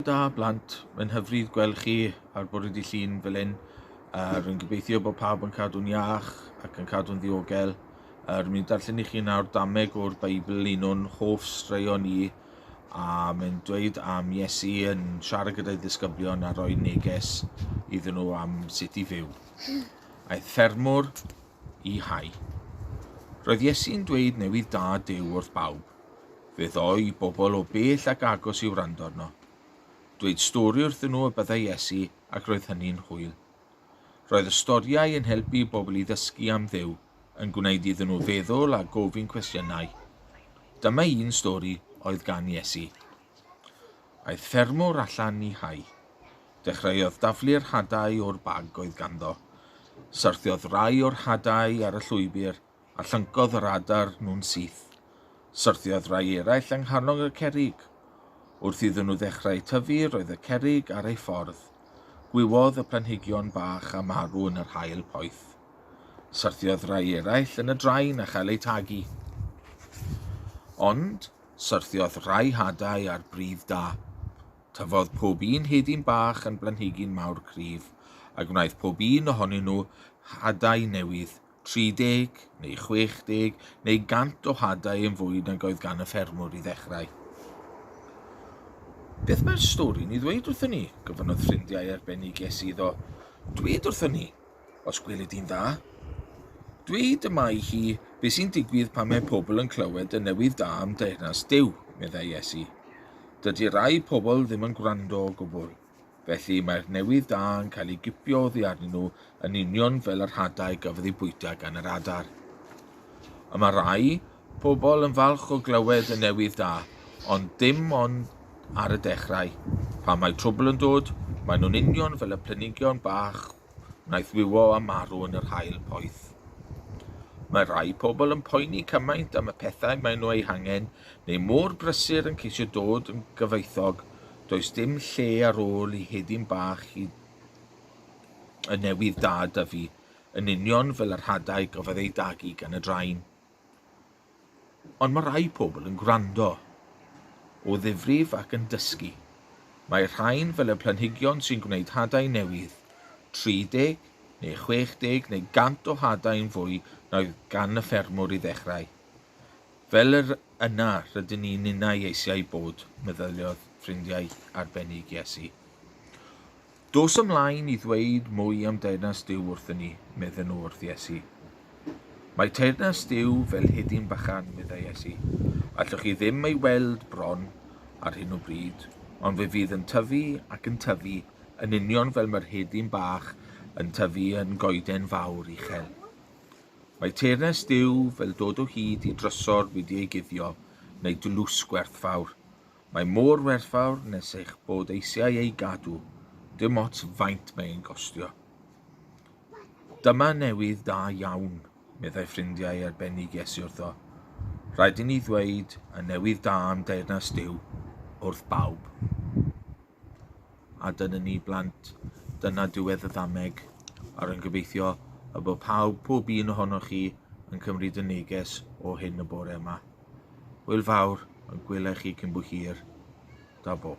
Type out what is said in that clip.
Da blant, mae'n hyfryd gweld chi ar bwrw di llun fel hyn. Uh, rwy'n gobeithio bod pawb yn cadw'n iach ac yn cadw'n ddiogel. Uh, rwy'n mynd darllen i chi nawr dameg o'r Beibl, un o'n hoff straeon i, a mae'n dweud am Iesu yn siarad gyda'i ddisgyblion a roi neges iddyn nhw am sut i fyw. Aeth ffermwr i hau. Roedd Iesu'n dweud newydd da dew wrth bawb. Fe ddoi bobl o bell ac agos i wrando arno. Dweud stori wrthyn nhw y byddai Iesu ac roedd hynny'n hwyl. Roedd y storïau yn helpu i bobl i ddysgu am Dduw, yn gwneud iddyn nhw feddwl a gofyn cwestiynau. Dyma un stori oedd gan Iesu. Aeth ffermwr allan i hau. Dechreuodd daflu'r hadau o'r bag oedd ganddo. Syrthiodd rai o'r hadau ar y llwybr a llyncodd yr adar nhw'n syth. Syrthiodd rai eraill yng nghalon y cerrig. Wrth iddyn nhw ddechrau tyfu, roedd y cerrig ar ei ffordd. Gwywodd y planhigion bach a marw yn yr haul poeth. Syrthiodd rai eraill yn y drain a chael eu tagu. Ond syrthiodd rai hadau ar bridd da. Tyfodd pob un hedyn bach yn blanhigyn mawr cryf, a gwnaeth pob un ohonyn nhw hadau newydd 30 neu 60 neu 100 o hadau yn fwy nag oedd gan y ffermwr i ddechrau. Beth mae'r stori'n ei ddweud wrthyn ni? gofynnodd ffrindiau arbennig Iesu iddo. Dweud wrthyn ni, os gwelid di'n dda. Dweud y mae hi beth sy'n digwydd pan mae pobl yn clywed y newydd da am deyrnas Dyw, meddai Iesu. Dydy rai pobl ddim yn gwrando o gwbl. Felly, mae'r newydd da yn cael ei gipio oddi arnyn nhw yn union fel yr hadau gafodd ei bwyta gan yr adar. Y mae rai pobl yn falch o glywed y newydd da, ond dim ond ar y dechrau. Pan mae trwbl yn dod, maen nhw'n union fel y plenigion bach wnaeth wywo a marw yn yr haul poeth. Mae rhai pobl yn poeni cymaint am y pethau maen nhw eu hangen, neu mor brysur yn ceisio dod yn gyfoethog, does dim lle ar ôl i hedyn bach i y newydd da dyfu, yn union fel yr hadau gafodd ei dagu gan y drain. Ond mae rhai pobl yn gwrando o ddifrif ac yn dysgu. Mae rhain fel y planhigion sy'n gwneud hadau newydd, 30 neu 60 neu 100 o hadau yn fwy na oedd gan y ffermwr i ddechrau. Fel yr yna rydyn ni ninnau eisiau bod, meddyliodd ffrindiau arbennig Iesu. Dos ymlaen i ddweud mwy am Deyrnas Duw wrthyn ni, medden nhw wrth Iesu. Mae Teyrnas Duw fel hedyn bychan, meddai Iesu. Allwch chi ddim ei weld bron ar hyn o bryd, ond fe fydd yn tyfu ac yn tyfu, yn union fel mae'r hedyn bach yn tyfu yn goeden fawr uchel. Mae Teyrnas Duw fel dod o hyd i drysor wedi ei guddio, neu dlws gwerthfawr. Mae mor werthfawr nes eich bod eisiau ei gadw, dim ots faint mae e'n gostio. Dyma newydd da iawn, meddai ffrindiau arbennig Iesu wrtho. Rhaid i ni ddweud y newydd da am deyrnas Duw wrth bawb. a dyna ni blant, dyna diwedd y ddameg a rwy'n gobeithio y bod pawb, pob un ohonoch chi yn cymryd y neges o hyn y bore yma. Hwyl fawr, yn gwylech chi cyn bo hir. Da bo.